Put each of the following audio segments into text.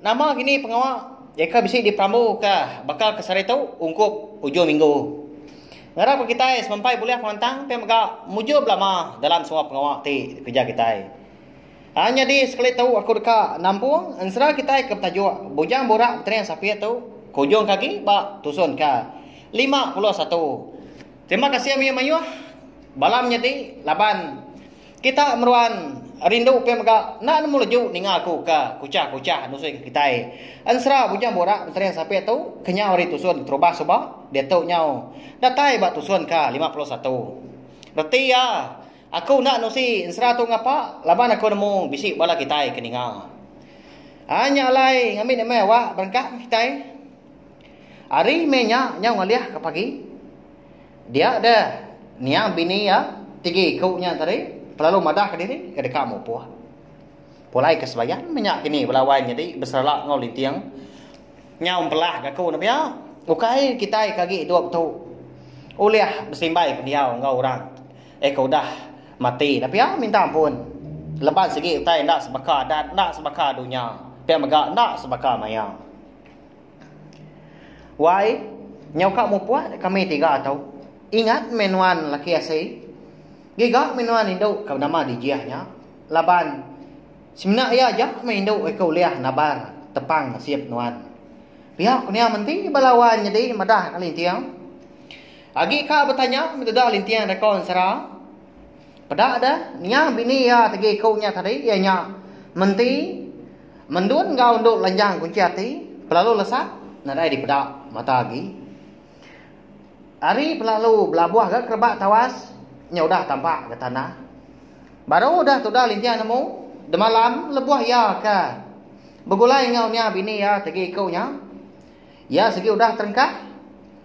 Nama gini pengawa jeka bisi diperambuka baka ke sehari tu ungkup ujung minggu. Ngarap ke kitai semampai bulih pengelantang ti mega mujur belama dalam semua pengawa ti dikereja kitai. Aa nyadi sekali tu aku deka nampung ensera kitai ke betajuk Bujang Burak Betering Sapit tu ke ujung ke agi ba tusun ke lima puluh satu. Terima kasih mayuh-mayuh bala menyadi laban. Kita meruan rindu pia mega enda nemu leju ninga aku ka kuchah-kuchah nusui ke kitai. Ensera bujang borak Menteri Sapit tu kenyau ari Tusun Terubah suba diatu nyau datai ba Tusun ka lima puluh satu. Reti iya, aku enda nusi ensera tu ngapa laban aku nemu bisi bala kitai ke ninga. Ai nya alai ngambi ni meh awak berengkah meh kitai. Hari meh nya nyau ngalih ka pagi. Dia deh, niang bini iya tiga iku nya tadi pelalu madah ke diri ke deka mupoh. Pulai ke sebayan menya kini bala wai nyadi beserelak enggau linting. Nyau empelah ke aku ne pia, ukai kitai ke agi idup tu ulih besimbai pendiau enggau orang eh ke udah mati ne pia minta ampun leban sigi utai enda sebaka adat enda sebaka dunya pia mega enda sebaka maya. Wai, nyau ka mupuk dek kami tiga tu. Ingat meh nuan laki asi. Giga meh nuan indu ka nama Dijih nya. Laban semina iya aja meh indu iko ulih nabar tepang nasib nuan. Pia ku nya menti bala wai nyadi madah ka Linting. Agi ka betanya meda Linting deko ensera. Peda da nya bini iya tegi ku nya tadi iya nya menti mendun enggau endu lanjang kunchi ati pelalu lesap nadai dipeda mata agi. Ari pelalu belabuh ga kerebak tawas nya udah tampak ga tanah. Baru udah tudah linting nemu demalam lebuh iya ka begulai enggau nya bini iya tegi ku nya iya sigi udah terengkah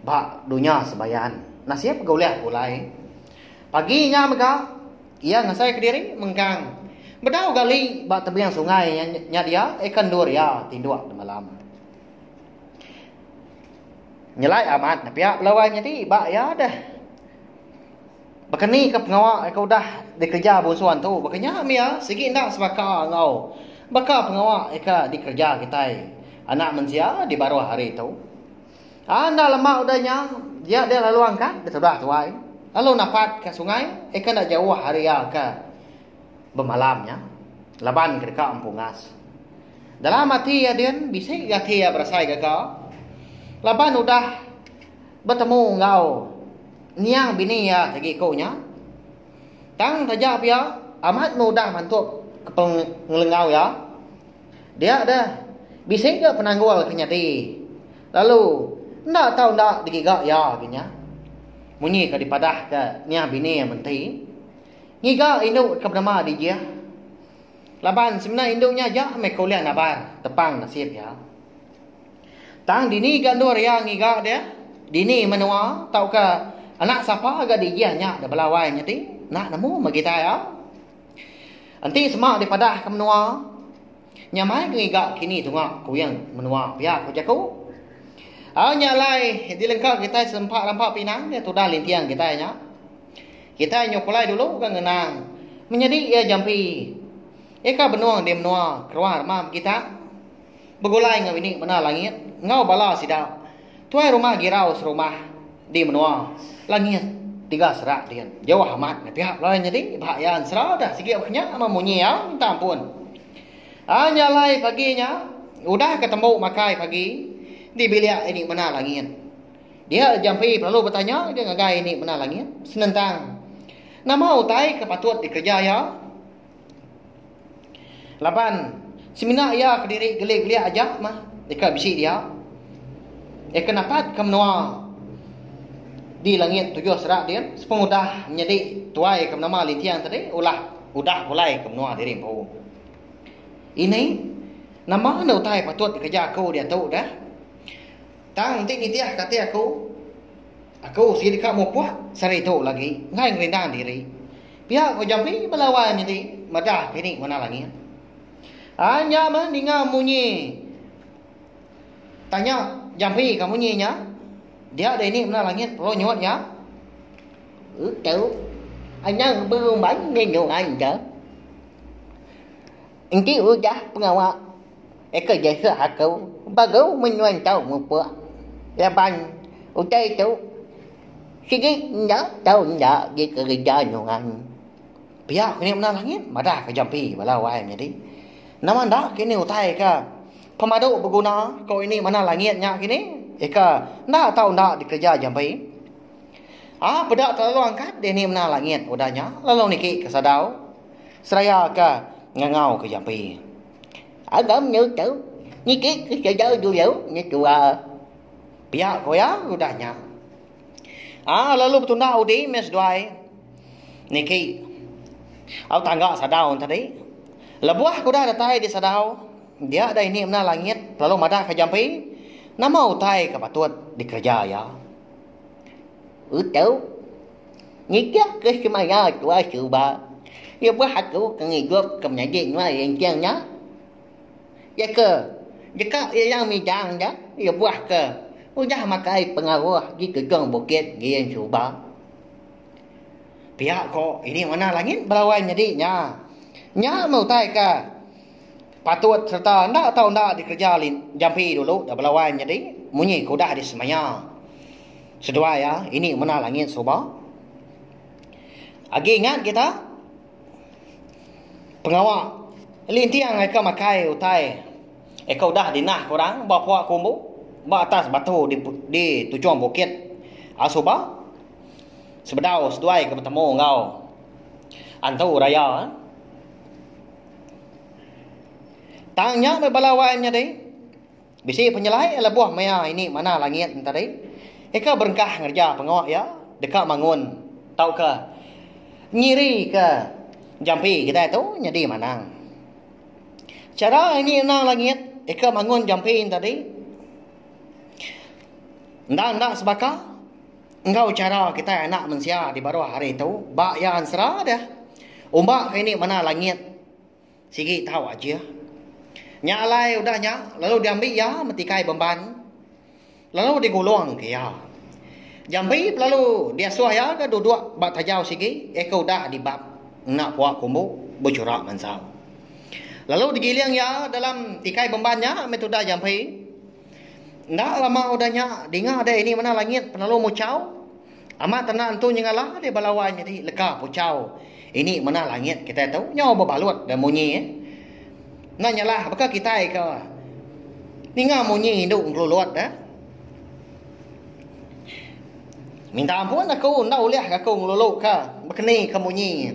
ba dunya sembayan nasib ga ulih begulai. Pagi nya mega, iya ngasaika diri mengkang bedau gali ba tebing sungai nya dia eka endur iya tinduk temalam. Nyelai amat nepia bala orang nyadi ba iya deh. Baka ni ke pengawa ke udah dikereja bungsu antu baka nya meh iya sigi enda sebaka enggau baka pengawa ke dikereja kitai anak mensia di baruh hari tu. Anda lema udah nya, dia dia lalu angkat betudah tuai, lalu napat ke sungai, eka enda jauh ari iya ke bemalam nya, laban ke deka empu ngas. Dalam ati iya din, bisi ga ati iya berasai gaga, laban udah betemu enggau niang bini iya ti giku nya. Tang taja pia, amat mudah mantup ke pengelengau iya. Dia deh, bisi ga penanggul ke nyadi, lalu enda tau enda digiga iya agi nya. Munyi ke dipadahka Niah Bini Menti, ngiga indu ke benama dijih laban semina indu nya aja meh ke ulih nabar tepang nasib iya. Tang dini ga endur iya ngiga deh, dini menua tauka anak sapa ga dijih nya debela wai nyadi, enda nemu meh gitai au. Enti sema dipadahka menua, nyamai ke ngiga kini tunga kuing menua pia ku jaku. Au nya alai dilengka kitai serempak rampa pinang dia tudah linting kitai nya. Kitai nyuklai dulu ke ngenang menyadi iya jampi ika benung di menua keruah remam kita. Begulai enggau ini mena langit enggau bala sida, tuai rumah girau serumah di menua langit tiga serak din, jauh amat meh piak lalu nyadi bah iya ensera deh sigi bah nya meh munyi iya minta ampun. Anya alai pagi nya udah ke tembu makai pagi di bilik ini mena langit. Dia Jampi belalu betanya aja ngagai ini mena langit senentang nama utai ke patut dikereja iya. Laban semina iya ke diri gelik-gelik aja mah deka bisi dia. Iya ke napat ke menua di langit tujuh sera din sepung udah menyadi tuai ke menama linting tadi ulah udah pulai ke menua diri empu. Ini nama enda utai patut dikereja aku diatu dah. Tang enti nitih ke ati aku, aku sigi deka mupuk sehari tu lagi enggai ngerindang diri. Pia ko Jampi belawai mili madah dini warna langit. Ai nya meh ninga munyi tanya Jampi ka munyi nya dia dini warna langit pelo nyuat nya. Utu anang berumban ngenyoai ida. Enti udah pengawa Eka jasa aku ba gau menua entau mupuk laban utai tu sigi enda tau enda agi kereja nyungan. Pia ku nya menang langit madah ke jampi bala wai nyadi. Nama enda ke ini utai ke pemadu beguna ko ini menang langit nya kini eka enda tau enda dikereja jampi. Aa peda telalu angkat dini menang langit udah nya lalu niki ke sadau seraya ke ngangau ke jampi. Alam nya tu nitih ke sida dulu nyetua pia ke oya udah nya aa lalu betunda udi meh seduai niki au tangga sadau tadi lebuh ke udah datai di sadau dia dah ini mena langit lalu madah ke jampi nama utai ke patut dikereja iya utuh. Nitihka semaya tuai suba, lebuh aku ke ngidup ke menyadi nuai linting nya, iaka deka ilang midang nya lebuh ke udah makai pengaruh di tujung bukit Giin Suba. Pia ko ini warna langit belawan nyadi nya. Nya meh utai ke. Patut sereta enda tau enda dikereja lin jampi dulu da bela wan nyadi munyi ke udah disemaya seduai iya ini mena langit suba. Agi ingat kita pengawa linting ai ke makai utai eh ke udah dinah ke orang ba pua kumbu ba atas batu di di tujung bukit a suba sebedau seduai ke betemu enggau antu raya. Tang nya meh bala wai menyadi. Bisi penyelai iya lebuh maya ini manah langit enti hari. Iya ke berengkah ngereja pengawa iya deka mangun tauka nyirika jampi kitai tu nyadi manang. Chara ini anang langit iya ke mangun jampi enti hari enda enda sebaka enggau chara kitai anak mensia di baruh hari tu ba iya ensera deh. Umbak ke ini manah langit. Sigi tau ajih. Nya alai udah nya lalu diambi iya metikai bemban lalu digulung ke iya. Jampi belalu diasuh iya ke duduk ba tajau sigi iya ke udah dibab enda puak kumbu bejurak mansau. Lalu digiling iya dalam tikai bemban nya meh tudah jampi. Enda lama udah nya dinga deh ini mena langit penelu muchau. Amat tanda entu nyengala deh bala wai nyadi leka puchau ini mena langit kitai tu nyau bebalut deh munyi eh. Enda nyalah baka kitai ke ninga munyi indu ngelulut deh. Minta ampun aku enda ulih aku ngelulu ke bekeni ke munyi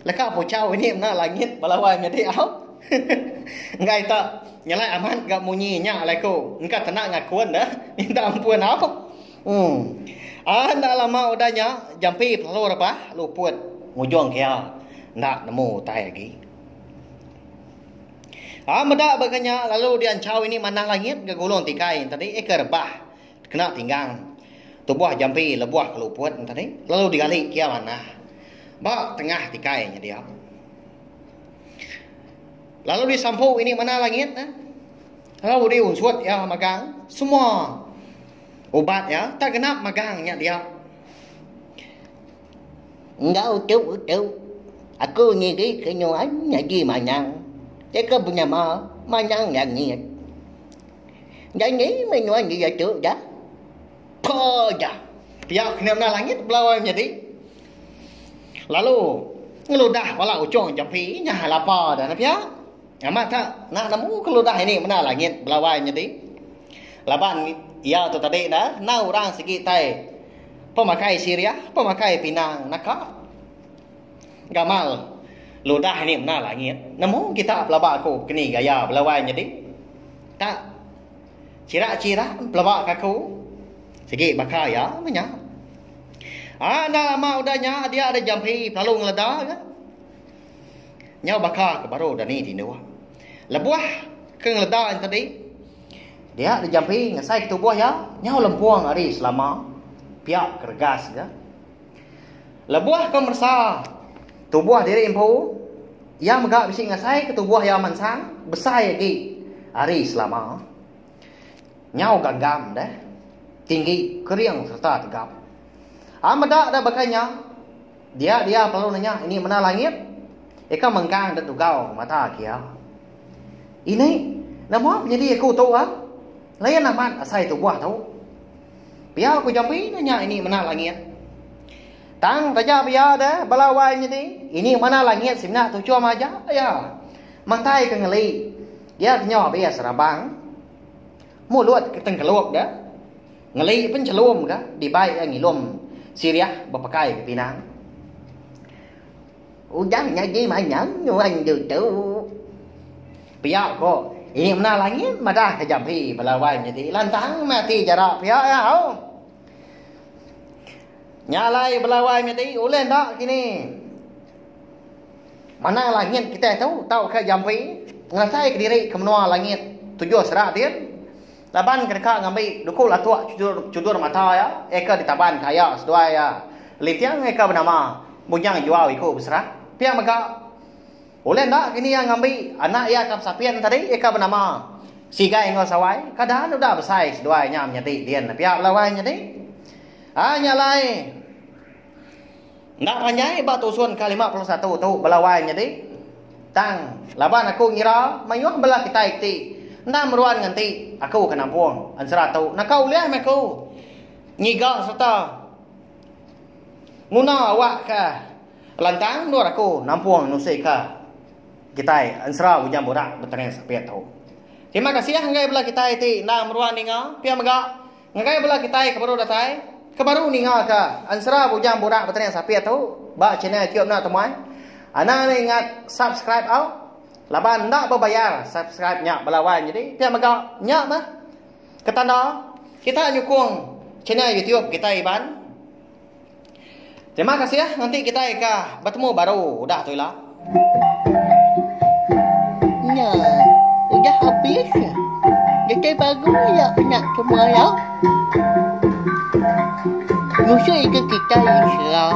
leka puchau ini mena langit bala wai nyadi au. Enggai ita nyalai amat ga munyi nya alai ku engka tanda ngakun deh minta ampun au. Uhm. Aaa enda lama udah nya, jampi selalu rebah luput ngujung ke iya enda nemu utai agi. Aaa meda baka nya lalu dianchau ini manah langit ga gulung tikai enti tadi eh ke rebah kena tinggang tubuh jampi lebuh ke luput enti tadi lalu digali ke iya manah ba tengah tikai nya dia. Lalu disampu ini manah langit ne lalu diunsut iya magang semua. Ubat iya tak genap magang nya dia. Enggau tu utu, aku nyirika nuan nyadi manyang. Jaka benyama, manyang langit. Jani meh nuan diatu dah? Peda! Pia kena meda langit belawa nyadi. Lalu ngeludah bala uchung jampi nya lapa dah pia. Amat ka enda nemu keludah ini meda langit belawai nyadi. Laban iya tu tadi enda enggau orang sigi tai pemakai Syria, pemakai pinang naka gamal ludah ini meda langit. Nemu kita pelaba aku ke ni gaya belawai nyadi? Tak chira-chira pelaba ke aku sigi baka iya meh nya. Aa enda lama udah nya dia ada jampi pelalu ngeleda ka. Nyau baka ke baru dani tinduh. Lebuh ke ngeleda nya tadi, dia dijampi ngasai ke tubuh iya nyau lempung ari selama pia ke regas ga. Lebuh ke meresa tubuh diri empu, iya mega bisi ngasai ke tubuh iya mansang besai agi ari selama. Nyau gagam deh, tinggi, kering sereta tegap. Am meda deh baka nya, Dia dia perlu nanya ini mena langit? Eka mengkang dek dugau mata kia. Ini nama penyedi aku tu ah? Layan amat asai tubuh tu. Pia aku jambi nanya ini mena langit. Tang taja pia de bala wai nyedi ini mena langit simna tuchum aja ya. Mantai ke ngeli. Dia kenyo abis rabang. Mulut ke tengkelup ga ngeli penchelum ga dibai iya ngilum sirih bepekai ke pinang. Ujan nyadi manjang nuan ditu. Pia ko ini mena langit madah ke jampi bala wan nyadi lantang meh ati jarak pia iya hau. Nya alai bala wan nyadi ulih enda kini. Manah langit kitai tu tauka jampi ngerasaika diri ke menua langit tujuh sera din laban ke deka ngambi duku latuk chudur mata iya iya ke ditabanka aya seduai iya Linting iya ke benama Bujang Juau Iku Beserah. Pia mega ulih enda kini iya ngambi anak iya ke besapin tadi iya ke benama Sigai enggau Sawai ke daan udah besai seduai nya menyadi din pia bala wai nyadi. Ai nya alai. Enda panjai ba tusun ke lima puluh satu tu bala wai nyadi. Tang, laban aku ngira mayuh bala kitai ti enda meruan nganti aku ke nampung ensera tu naka ulih meh aku ngiga sereta nguna awakka lantang endur aku nampung nusika kitai ensera Bujang Burak Betereng Sapit tu. Terima kasih enggai bala kitai ti enda meruan ninga pia mega. Ngagai bela kitai ke baru datai, ke baru ningaka ensera Bujang Burak Betanian Sapit tu ba channel Kiok Enda Temuai, anang enda ingat subscribe au. Laban enda bebayar subscribe nya bala wan nyadi pia mega nya meh ke tanda kita nyukung channel YouTube kitai Iban. Terima kasih ah nganti kitai ka betemu baru udah tu ila. Nya, udah habis ya. Detai bagu ya pina semua ya. Musuh ika kitai Islam.